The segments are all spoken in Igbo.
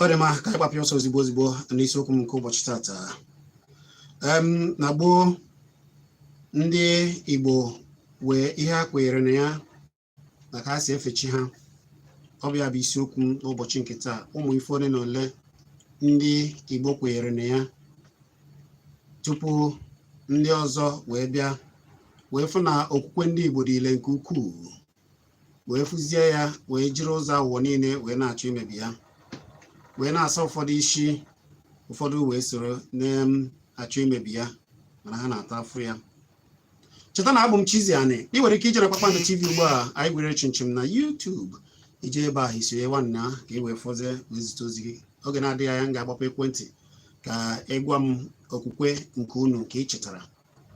ọ dị mma ka anyị gbapịa ọsọ ozigbo ozigbo n'isiokwu m nke ụbọchị tata em na gboo ndị igbo wee ihe ha kwenyere na ya na ka ha si efe chi ha ọ bụ ya bụ isiokwu m n'ụbọchị nke taa ụmụ ife ole na ole ndị Igbo kwenyere na ya tupu ndị ọzọ wee bịa wee fụ na okwukwe ndị Igbo dị ile nke ukwuu wee fụzie ya wee jiri ụzọ awụwọ niile wee na-achọ imebi ya wee na-asa ụfọdụ isi ụfọdụ wee soro na-achọ imebi ya mana ha na-ata afụ ya cheta na abụ m Chizzy Ani ị nwere ike ije na Kpakpando TV ugbu a anyị gwere chịmchịm na YouTube ije ebe a isonye nwanna ka ị wee fọzie wee zite ozi gị oge na-adịghị anya m ga-agbapụ ekwentị ka ị gwa m okwukwe nke unu nke ị chetara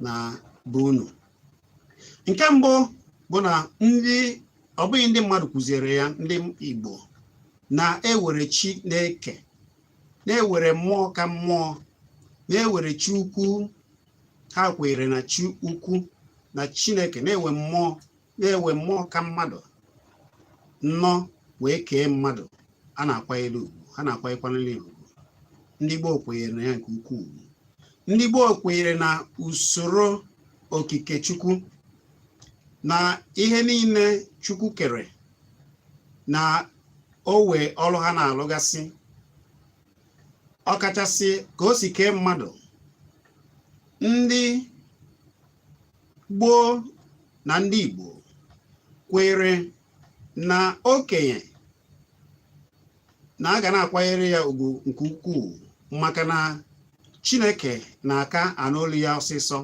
na bụ unu nke mbụ bụ na ndị ọ bụghị ndị mmadụ kụziere ya ndị Igbo na-ewere chi na-eke na-ewere mmụọ ka mmụọ na-ewere chi ukwu ha kweere na chi ukwu na chineke na-enwe mmụọ na-enwe mmụọ ka mmadụ nnọọ wee kee mmadụ a na-akwanyere ugwu ha na-akwanyekwanere ugwu ndị gboo kwenyere na ya nke ukwuu ndị gboo kwenyere na usoro okike chukwu na ihe niile chukwu kere na owe ọrụ ha na-alụgasị ọkachasị ka o si kee mmadụ ndị gboo na ndị Igbo kwere na okenye na a ga na-akwanyere ya ugwu nke ukwuu maka na Chineke na-aka anụ olu ya ọsịsọ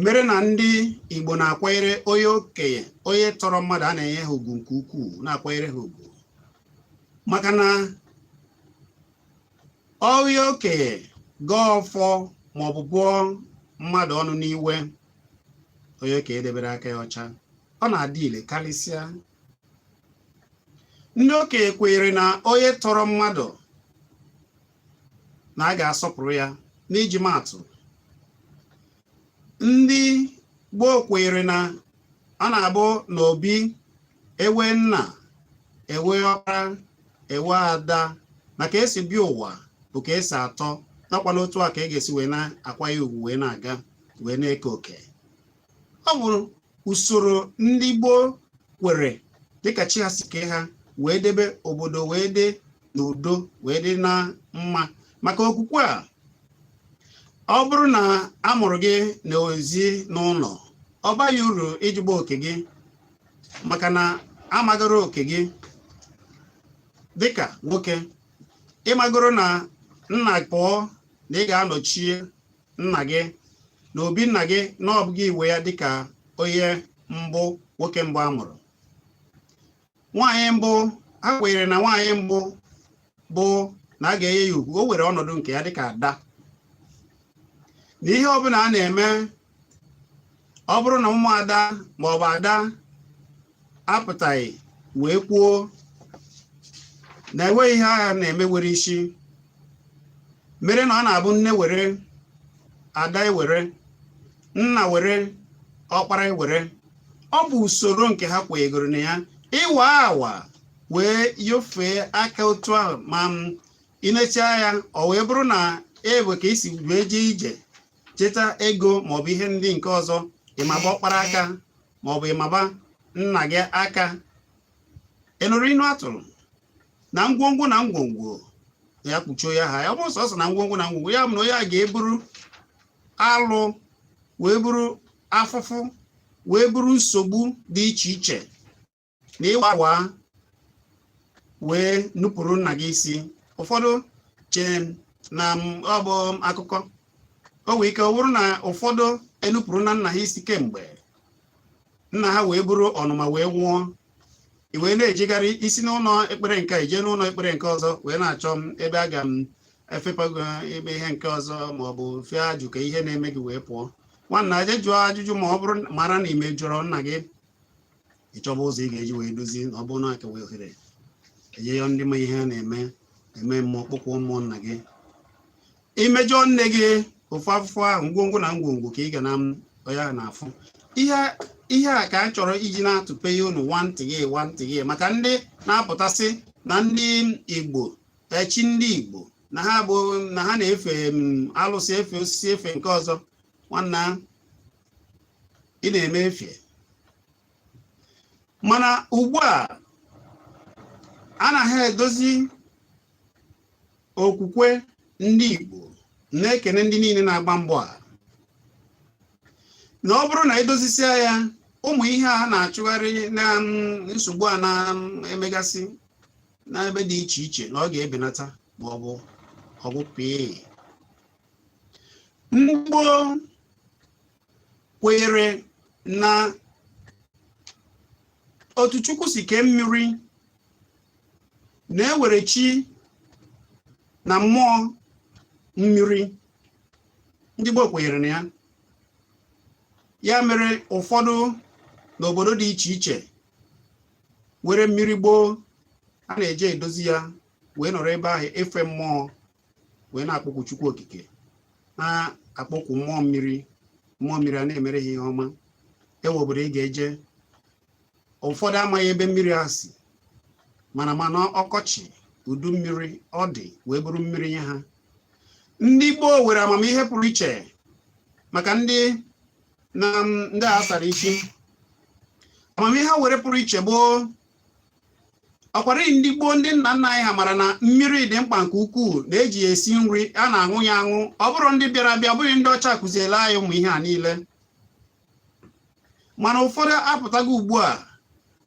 mere na ndị Igbo na-akwanyere onye okenye onye tọrọ mmadụ a na-enye ha ugwu nke ukwuu na-akwanyere ha ugwu maka na onye okenye gọọ ọfọ maọbụ bụọ mmadụ ọnụ n'iwe onye okenye debere aka ya ọcha ọ na-adị ile karịsịa ndị okenye kwenyere na onye tọrọ mmadụ na a ga-asọpụrụ ya n'iji maatụ ndị gboo kweere na ọ na-abụ na obi ewe nna ewe ọkpara ewe ada na ka e si bịa ụwa bụ ka e si atọ nakwana otu a ka e ga-esi wee na-akwanye ugwu wee na-aga wee na-eke oke ọ bụrụ usoro ndị gboo kwere dịka chi ha si kee ha wee debe obodo wee dị n'udo wee dị na mma maka okwukwe a ọ bụrụ na a mụrụ gị na ezi n'ụlọ ọ baghị uru ịjụba oke gị maka na amagoro oke gị dịka nwoke ị magoro na nna pụọ na ị ga-anọchi nna gị na obi nna gị na ọ bụ gị nwe ya dịka onye mbụ nwoke mbụ a mụrụ nwaanyị mbụ ha kwenyere na nwaanyị mbụ bụ na a ga-enye ya ugwu o were ọnọdụ nke ya dịka ada na ihe ọbụla a na-eme ọ bụrụ na ụmụada maọbụ ada apụtaghị wee kwuo na enweghị ihe a ga na-eme were isi mere na ọ na-abụ nne were ada ewere nna were ọkpara ewere ọ bụ usoro nke ha kwenyegoro na ya ịwa awa wee yofee aka otu ahụ ma i nechaa ya ọ wee bụrụ na ebe ka i si wee jee ije cheta ego maọbụ ihe ndị nke ọzọ ị maba ọkpara aka ma ọ bụ ị maba nna gị aka ị nụrụ inu a tụrụ na ngwongwo na ngwongwo ya kpuchie ya ha ya ọ bụrụ sọsọ na ngwongwo na ngwongwo ya bụ na onye a ga-eburu alụ wee buru afụfụ wee buru nsogbu dị iche iche na ịwawa wee nupụrụ nna gị isi ụfọdụ chee na ọ bụ akụkọ o nwee ike ọ bụrụ na ụfọdụ enupụrụna nna ha isi kemgbe nna ha wee buru ọnụma wee nwụọ i wee na-ejegharị i si n'ụlọ ekpere nke i jee n'ụlọ ekpere nke ọzọ wee na-achọ m ebe a ga m efepago ebe ihe nke ọzọ ma ọ bụ fee ajụ ka ihe na-eme gị wee pụọ nwanna jee jụọ ajụjụ ma ọ bụrụ mara na i mejọrọ nna gị ị chọba ụzọ ị ga-eji wee dozie na ọ bụrụ na a ka wee ohere e jee yọọ ndị ma ihe a na-eme eme mmụọ kpọkwuo mmụọ nna gị i mejọọ nne gị ofu afụfụ ahụ ngwongwo na ngwongwo ka ị ga na ya na-afụ ihe ihe a ka a chọrọ iji na-atụpe ihe unu nwantị gị nwantị gị maka ndị na-apụta sị na ndị igbo echi ndị igbo na ha bụ na ha na-efe alụsị efe osisi efe nke ọzọ nwanna ị na-eme efe mana ugbu a anaghị edozi okwukwe ndị Igbo na-ekene ndị niile na-agba mbọ a na ọ bụrụ na e dozisia ya ụmụ ihe a na-achụgharị na mm, nsogbu a na-emegasị mm, n'ebe dị iche iche na ọ ga-ebenata ma ọ bụ ọ gwụ pee igbo kwenyere na otu chukwu si kee mmiri na e nwere chi na mmụọ mmiri ndị gboo kwenyere na ya ya mere ụfọdụ n'obodo dị iche iche nwere mmiri gboo a na-eje edozi ya wee nọrọ ebe ahụ efe mmụọ wee na-akpọkwu Chukwu Okike na-akpọkwu mmụọ mmiri mmụọ mmiri a na-emere ha ihe ọma e nwee obodo ị ga-eje ụfọdụ amaghị ebe mmiri a si mana mana ọkọchị udu mmiri ọ dị wee bụrụ mmiri nye ha ndị gboo nwere amamihe pụrụ iche maka ndị na ndị a sara isi amamihe ha nwere pụrụ iche gboo ọkwara ndị gboo ndị nna nna anyị ha mara na mmiri dị mkpa nke ukwuu na e ji ya esi nri a na-aṅụ ya aṅụ ọ bụrọ ndị bịara abịa ọ bụghị ndị ọcha kụziela anyị ụmụ ihe a niile mana ụfọdụ apụtago ugbu a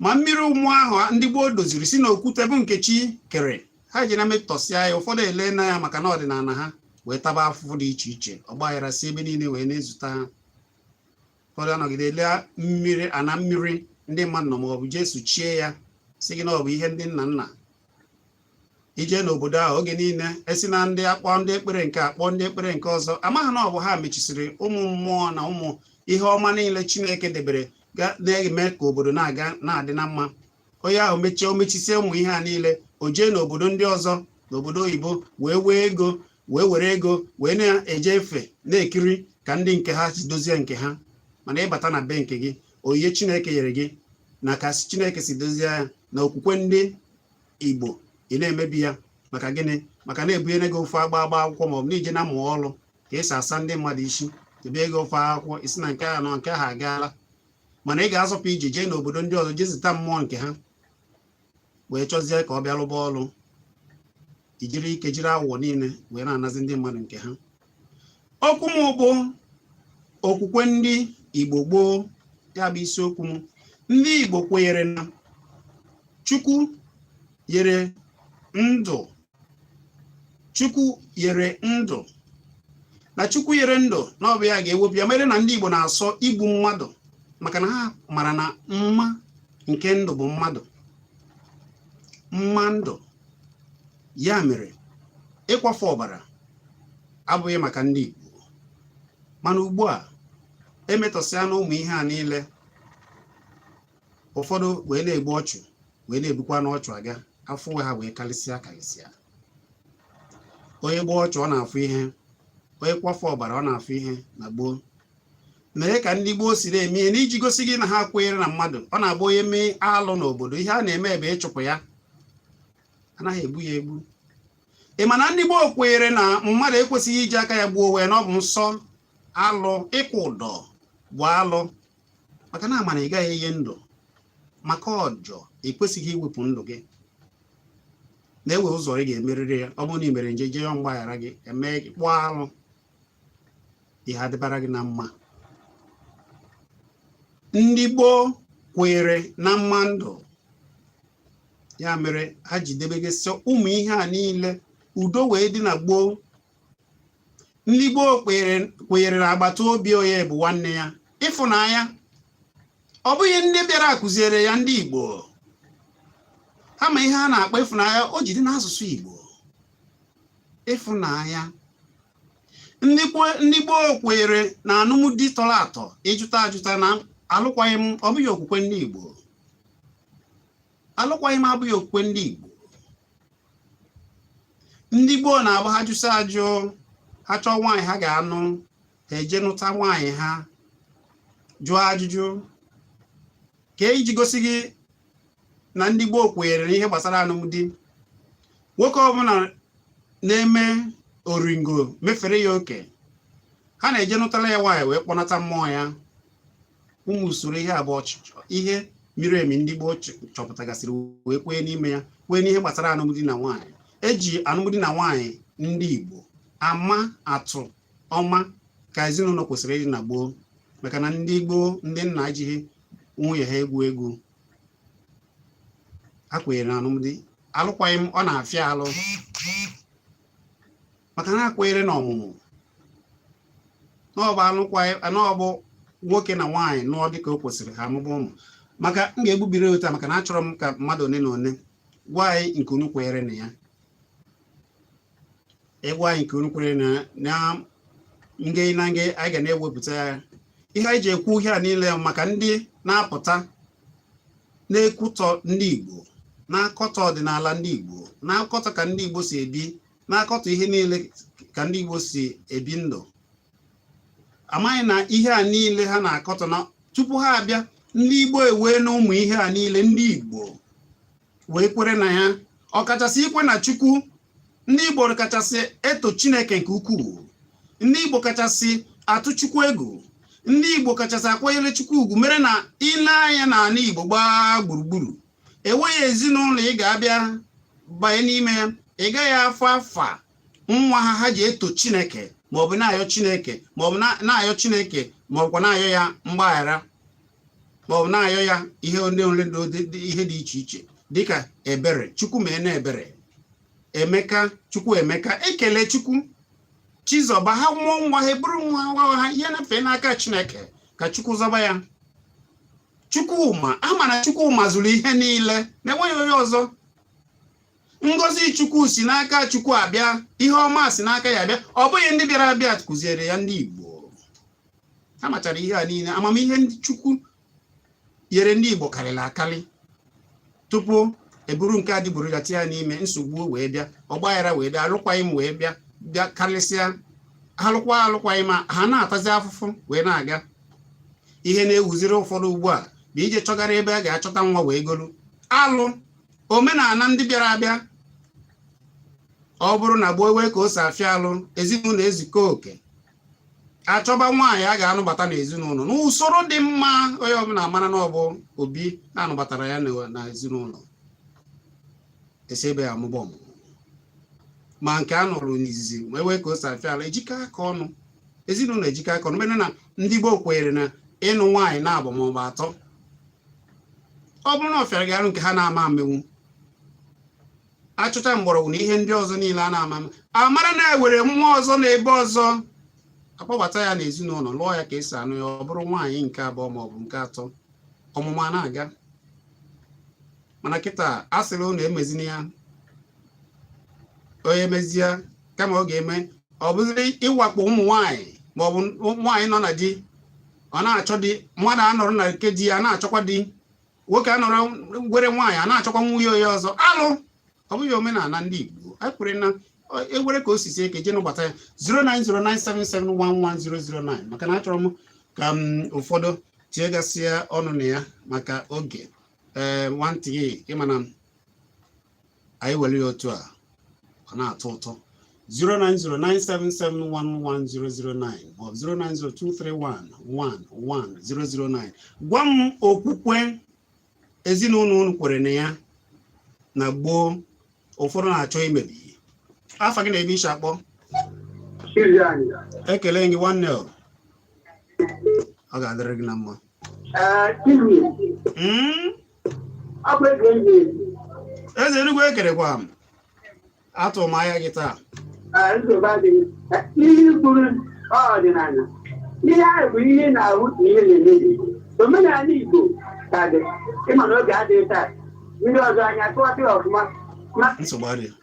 ma mmiri ọma ahụ ndị gboo doziri si n'okwute bụ nke chi kere ha ejena metọsịa ya ụfọdụ elena ya maka na ọdịnala ha wee taba afụfụ dị iche iche ọgbaghara si ebe niile wee na-ezute ha ụfọdụ anọgide ele mmiri ana mmiri ndị mmadụ nọ ma ọ bụ jee sụchie ya sị gị na ọ bụ ihe ndị nna nna i jee n'obodo ahụ oge niile e si na ndị a kpọọ ndị ekpere nke a kpọọ ndị ekpere nke ọzọ amaghị na ọ bụ ha mechisiri ụmụ mmụọ na ụmụ ihe ọma niile chineke debere na-eme ka obodo na-aga na-adị na mma onye ahụ mechie o mechisie ụmụ ihe a niile o jee n'obodo ndị ọzọ n'obodo oyibo wee wee ego wee were ego wee na-eje efe na-ekiri ka ndị nke ha si dozie nke ha mana ị bata na be nke gị onyinye chineke nyere gị na ka chineke si dozie ya na okwukwe ndị igbo ị na-emebi ya maka gịnị maka na e bunyere gị ofu agba agba akwụkwọ ma ọ bụ na i jena mụọ ọrụ ka e si asa ndị mmadụ isi e bie gị ofu akwụkwọ ị sị na nke a nọ nke ahụ agaala mana ị ga-azọpụ ije jee n'obodo ndị ọzọ jee zụta mmụọ nke ha wee chọzie ka ọ bịa lụba ọrụ i jiri ike jiri awụwọ niile wee na-anazi ndị mmadụ nke ha okwu m bụ okwukwe ndị igbo gboo ya bụ isiokwu m ndị igbo kwenyere na chukwu nyere ndụ chukwu nyere ndụ na chukwu nyere ndụ na ọ bụ ya ga-ewepụ ya mere na ndị igbo na-asọ igbu mmadụ maka na ha mara na mma nke ndụ bụ mmadụ mma ndụ ya mere ịkwafu ọbara abụghị maka ndị Igbo mana ugbu a e metọsịana ụmụ ihe a niile ụfọdụ wee na-egbu ọchụ wee na-ebukwa n'ọchụ aga afọ ha wee karịsịa karịsịa onye gbuo ọchụ ọ na-afụ ihe onye kwafọ ọbara ọ na-afụ ihe na gboo mere ka ndị gboo si na-eme ihe n'iji gosi gị na ha kweere na mmadụ ọ na-abụ onye mee alụ n'obodo ihe a na-eme bụ ịchụpụ ya anaghị egbu ya egbu ị ma na ndị gboo kweere na mmadụ ekwesịghị iji aka ya gbuo onwe ya na ọ bụ nsọ alụ ịkwụ ụdọ bụ alụ maka na amara ị gaghị enye ndụ maka ọjọ i kwesịghị iwepụ ndụ gị na enwe ụzọ ị ga-emerịrị ya ọ bụrụ na ị mere njọ jee yọọ mgbaghara gị mee kpụọ arụ ihe adịbara gị na mma ndị gboo kwere na mma ndụ ya mere ha ji debegasị ụmụ ihe a niile udo wee dị na gboo ndị gboo kweere na agbata obi onye bụ nwanne ya ịfụnanya ọ bụghị ndị bịara kụziere ya ndị Igbo ha ma ihe a na-akpọ ịfụnanya o ji dị n'asụsụ Igbo ịfụnanya ndị gboo kweere na anụmdi tọrọ atọ ịjụta ajụta na alụkwaghị m ọ bụghị okwukwe ndị Igbo alụkwaghị m abụghị okwukwe ndị Igbo ndị gboo na-abụ ha jụsịa ajụ ha chọọ nwaanyị ha ga-anụ ha eje nụta nwaanyị ha jụọ ajụjụ ka eji gosi gị na ndị gboo kweere n'ihe gbasara anụmdi nwoke ọbụla na-eme oringo mefere ya oke ha na-eje nụtara ya nwaanyị wee kpọnata mmụọ ya ụmụ usoro ihe a bụcha ihe miri emi ndị gboo chọpụtagasịrị wee kwee n'ime ya kwee n'ihe gbasara anụmdi na nwaanyị eji anụmdi na nwaanyị ndị Igbo ama atụ ọma ka ezinụlọ kwesịrị ịdị na gboo maka na ndị gboo ndị nna ejighị nwunye ha egwu egwu ha kwenyere na anụmdi alụkwaghị m ọ na-afịa alụ maka na ha kweere na ọmụmụ na ọ bụ anụkwa na ọ bụ nwoke na nwaanyị nụọ dịka o kwesịrị ha amụba ụmụ maka m ga-egbubiri ụta maka na achọrọ m ka mmadụ one na one gwa anyị nke unu kweere na ya ị gwa anyị nke unu kweere na na nge na nge anyị ga na-ewepụta ya ihe anyị ji ekwu ihe a niile maka ndị na-apụta na-ekwutọ ndị Igbo na-akọtọ ọdịnala ndị Igbo na-akọtọ ka ndị Igbo si ebi na-akọtọ ihe niile ka ndị Igbo si ebi ndụ amaghị na ihe a niile ha na-akọtọ na tupu ha abịa ndị Igbo enweena ụmụ ihe a niile ndị Igbo wee kwere na ya ọkachasị ikwe na Chukwu ndị Igbo kachasị eto Chineke nke ukwuu ndị Igbo kachasị atụ Chukwu egwu ndị Igbo kachasị akwanyere Chukwu ugwu mere na i lee anya n'ala Igbo gbaa gburugburu enweghị ezinụlọ ị ga-abịa banye n'ime ya ị gaghị afụ afa nwa ha ha ji eto chineke maọbụ na-ayọ chineke maọbụ na-ayọ chineke maọbụkwa na-ayọ ya mgbaghara maọbụ na-ayọ ya ihe ndị ole ihe dị iche iche dịka ebere chukwu mee na ebere Emeka Chukwuemeka Ekelechukwu Chizọba ha mụọ nwa ha eburu nwa nwa ha nyefee n'aka chineke ka chukwu zọba ya Chukwuma a mara Chukwu mazuru ihe niile na enweghị onye ọzọ ngozi chukwu si n'aka chukwu abịa ihe ọma si n'aka ya abịa ọ bụghị ndị bịara abịa kụziere ya ndị igbo ha machara ihe a niile amamihe ndị chukwu nyere ndị igbo karịrị akarị tupu eburu nke adịgboroja tinye ya n'ime nsogbu wee bịa ọgbaghara wee bịa alụkwaghịm wee bịa bịa karịsịa ha lụkwa alụkwaghịm ma ha na-atazi afụfụ wee na-aga ihe na-ewuziri ụfọdụ ugbu a bụ ije chọgara ebe a ga-achọta nwa wee golu alụ omenala ndị bịara abịa ọ bụrụ na gboo enwee ka o si afịa arụ ezinụlọ ezukọọ oke achọba nwaanyị a ga-anụbata n'ezinụlọ n'usoro dị mma onye ọbụla mara na ọ bụ obi na-anụbatara ya na ezinụlọ esi ebe ya amụba ọmụmụ ma nke a nụrụ n'izizi ma enwee ka o si afịa arụ ejikọ aka ọnụ ezinụlọ ejikọ aka ọnụ mere na ndị gboo kwenyere na ịnụ nwaanyị naabọ ma ọ bụ atọ ọ bụrụ na ọ fịara gị arụ nke ha na-ama emenwu achọchaa mgbọrọgwụ na ihe ndị ọzọ niile a na-ama amara na enwere ọmụmụ ọzọ na ebe ọzọ akpọbata ya n'ezinụlọ lụọ ya ka esi anụ ya ọ bụrụ nwaanyị nke abụọ ma ọ bụ nke atọ ọmụmụ a na-aga mana kịta a sịrị unu emezina ya onye mezie kama ọ ga-eme ọ bụziri ịwakpo ụmụ nwaanyị ma ọ bụ nwaanyị nọ na di ọ na-achọ di mmadụ anọrọ na nke di ya na-achọkwa di nwoke anọrọ nwere nwaanyị a na-achọkwa nwunye onye ọzọ alụ ọ bụghị omenala ndị Igbo anyị kwere na enwere ka o si sie ike e jee nụbata ya 09097711009 maka na achọrọ m ka ụfọdụ tinyegasịa ọnụ na ya maka oge ee nwantị ịma na anyị were ya otu a ọ na-atọ ụtọ 09097711009 maọbụ 09023111009 gwa m okwukwe ezinụlọ unu kwere na ya na gboo ụfọdụ na-achọ imebi afa gị na ebe i shi akpọ ekele m gị nwanne ọ ga-adịrị gị na mma hmm? eze enugwu ekelekwa m atụ m anya gị taa ihe i kwuru ọdịnala ihe ahụ bụ ihe na-ahụ na ihe na-emebi omenala igbo ka dị ị ma na oge adịghị taa ndị ọzọ anyị akọwatị ọfụma nsogbu adịghị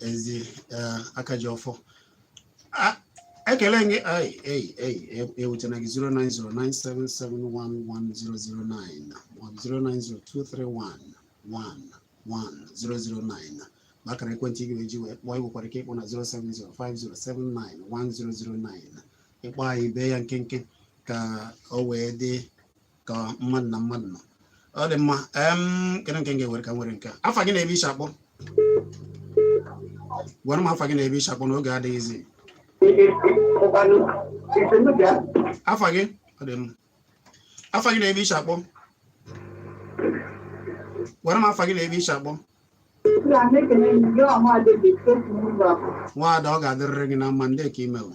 ezi eh, aka ji ọfọ A- ekele m gị ai ei ei e- ewutena gị 09097711009 maọbụ 09023111009 bụ akara ekwentị ị ga-eji wee kpọọ i nwekwara ike ịkpọ na 07050791009 ị kpọọ anyị bee ya nkenke ka o wee dị ka mmadụ na mmadụ nọ ọ dị mma em kedu nke m ga-ewere ka m were nke a. afa gị na ebe i shi akpọ gwara m afa gị na ebe i shi akpọ na oge adịghịzi afa gị ọ dị mma afa gị na ebe i shi akpọ gwara m afa gị na ebe i shi akpọ nwaada ọ ga-adịrịrị gị na mma ndee ka i mere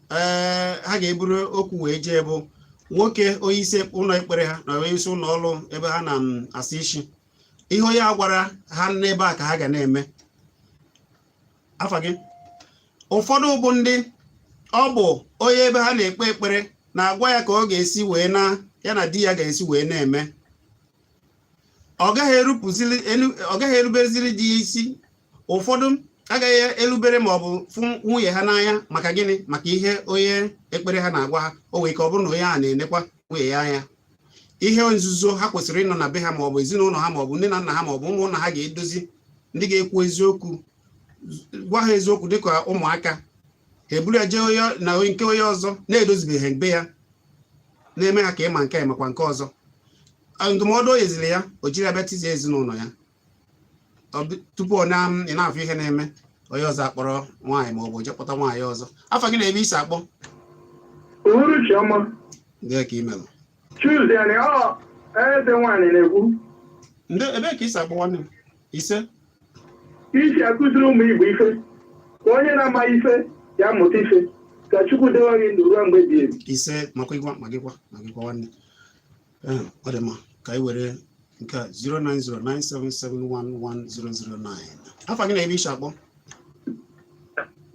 ee ha ga-eburu okwu wee jee bụ nwoke onye isi ụlọ ekpere ha na onye isi ụlọ ọrụ ebe ha na-asa isi ihe onye a gwara ha n'ebe a ka ha ga na-eme afa gị ụfọdụ bụ ndị ọ bụ onye ebe ha na-ekpe ekpere na-agwa ya ka ọ ga-esi wee na ya na di ya ga-esi wee na-eme ọ gaghị erupụziri elu ọ gaghị erubereziri di ya isi ụfọdụ agaghị erubere ma ọ bụ fụ nwunye ha n'anya maka gịnị maka ihe onye ekpere ha na-agwa ha o nwere ike ọ bụrụ na onye a na-enekwa nwunye ya anya ihe nzuzo ha kwesịrị ịnọ na be ha ma ọ bụ ezinụlọ ha ma ọ bụ nne na nna ha ma ọ bụ ụmụnna ha ga-edozi ndị ga-ekwu eziokwu gwa ha eziokwu dịka ụmụaka ha eburu ya jee na nke onye ọzọ na-edozibeghị be ya na-eme ha ka ịma nke a makwa nke ọzọ A, ndụmọdụ o nyeziri ya o jiri bịa tizie ezinụlọ ya Ọ bụ- tupu ọ na ị na-afụ ihe na-eme onye ọzọ akpọrọ nwaanyị ma ọ bụ je kpọta nwaanyị ọzọ afa gị na ebe i si akpọ uhuruchi ọma ndee ka i melu Tuesday anyị ọ eze nwaanyị na-ekwu ndị ebee ka i si akpọ nwanne m ise iji akụziri ụmụ Igbo ife ka onye na-ama ife ya mụta ife ka Chukwu dewe gị ndụ ruo mgbe ebighị ebi ise ma gịkwa ma gịkwa ma gịkwa nwanne ọ dị mma ka anyị were nke a 09097711009 afa gị na ebe i si akpọ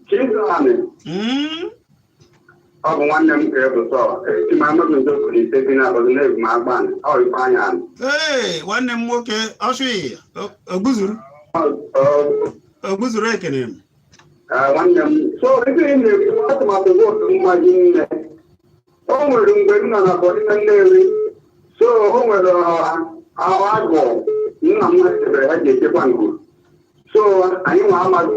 Chimdramani hmm? ọ bụ nwanne m ka ebu sọ esi m Amọdu ndị okuru ise bi na abọdụ na-ebu m Agbani ọ Ifeanyi Anị ee nwanne m nwoke ọsụghị ogbuzuru ogbuzuru ekene m nwanne m so ebe ị na-ekwu atụmatụ vootu mma gị nne o nwere mgbe m nọ na bọdịna Nnewi so o nwere ahụ agụ nna m chebere ha ji echekwa ngụ so anyị nwa amaghị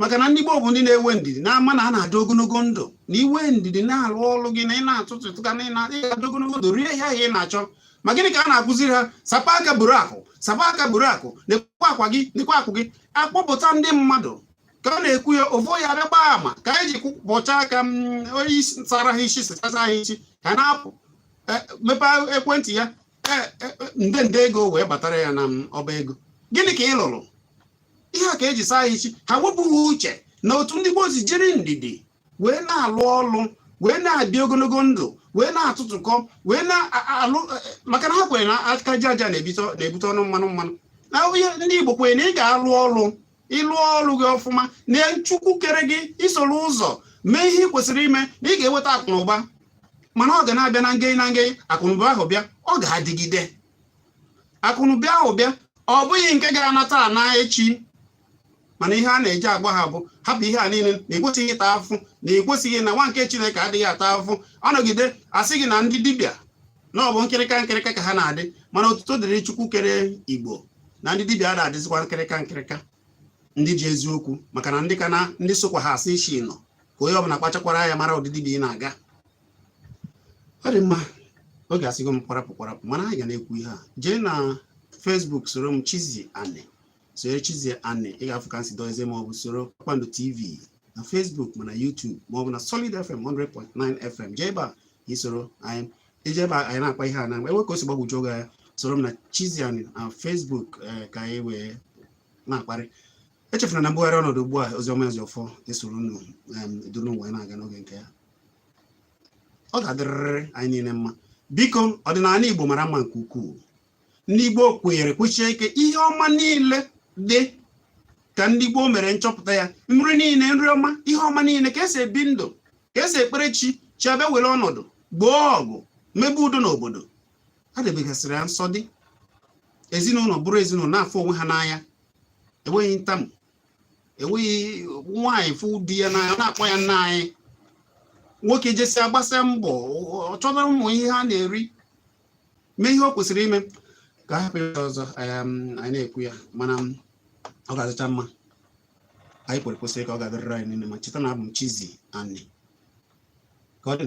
maka na ndị Igbo bụ ndị na-enwe ndidi na-ama na a na-adị ogologo ndụ na i nwee ndidi na-arụ ọrụ gị na ị na-atụtụkọ na ị ga-adị ogologo ndụ rie ihe ahụ ị na-achọ ma gịnị ka a na-akụziri ha sapa aka buru akụ sapa aka buru akụ nekwa aka gị nekwa akụ gị akpọpụta ndị mmadụ ka ọ na-ekwu ya ofu onye abịa gbaa ama ka anyị ji kwụpọcha aka onye isi sara ha isi sachasa ha isi ka ọ na-apụ e, mepee ekwentị ya e, e, nde nde ego wee batara ya na ọba ego gịnị ka ị lụrụ ihe a ka e ji saa isi ha wepụ ha uche na otu ndị gboo si jiri ndidi wee na-alụ ọlụ wee na-adị ogologo ndụ wee na-atụtụkọ wee na-alụ e, e, maka na ha kwere na aka ji aja na-ebute ọnụ mmanụ mmanụ na ihe ndị Igbo kwere na ị ga-alụ ọlụ ị lụọ ọlụ gị ọfụma na Chukwu kere gị i soro ụzọ mee ihe ị kwesịrị ime na ị ga-enweta akụ na ụba mana ọ ga na-abịa na nge na nge akụnụba ahụ bịa ọ ga-adịgide akụnụba ahụ bịa ọ bụghị nke ga-ana taa na echi mana ihe a na-eji agwa ha bụ hapụ ihe a niile na i kwesịghị ịta afụfụ na i kwesịghị na nwa nke Chineke adịghị ata afụfụ a nọgide asị gị na ndị dibịa na ọ bụ nkịrịka nkịrịka ka ha na-adị mana otuto dịrị Chukwu kere Igbo na ndị dibịa ada adịzikwa nkịrịka nkịrịka ndị ji eziokwu maka na ndị ka na ndị sokwa ha asị isi nọ ka onye ọbụla kpachakwara anya mara ụdị dibịa ị na-aga ọ dị mma oge asịgo m kwarapụ kwarapụ mana anyị ga na-ekwu ihe a jee na Facebook soro m Chizzy Ani soro Chizzy Ani ị ga-afụ ka m si dozie ma ọ bụ soro Kpakpando TV na Facebook ma na YouTube ma ọ bụ na Solid FM 100.9 FM jee ebe a i soro anyị ije ebe anyị na-akpa ihe a na enwe ka o si gbagwoju gị anya soro m na Chizzy Ani na Facebook eh, ka anyị wee na-akparị echefuna na mbugharị ọnọdụ ugbu a Oziọma Ezeọfọ esoro unu em, duru n'ụwa anyị na-aga n'oge nke ya ọ ga-adịrịrị anyị niile mma biko ọdịnala Igbo mara mma nke ukwuu ndị Igbo kwenyere kwechie ike ihe ọma niile dị ka ndị Igbo mere nchọpụta ya nri niile nri ọma ihe ọma niile ka esi ebi ndụ ka esi ekpere chi chi abịa were ọnọdụ gboo ọgụ mebe udo n'obodo a debegasịrị ya nsọ dị ezinụlọ bụrụ ezinụlọ na-afụ onwe ha n'anya enweghị ntamu enweghị nwaanyị fụ di ya n'anya ọ na-akpọ ya nna anyị nwoke jesi agbasi mbọ ọ chọta ụmụ ihe ha na-eri mee ihe o kwesịrị ime ka a hapụ ya ọzọ um, anyị na-ekwu ya mana um, ọ ga-adịcha mma anyị kwere kwesịrị ka ọ ga-adịrịrị anyị niile mma cheta na abụ m Chizzy Ani ka ọ dị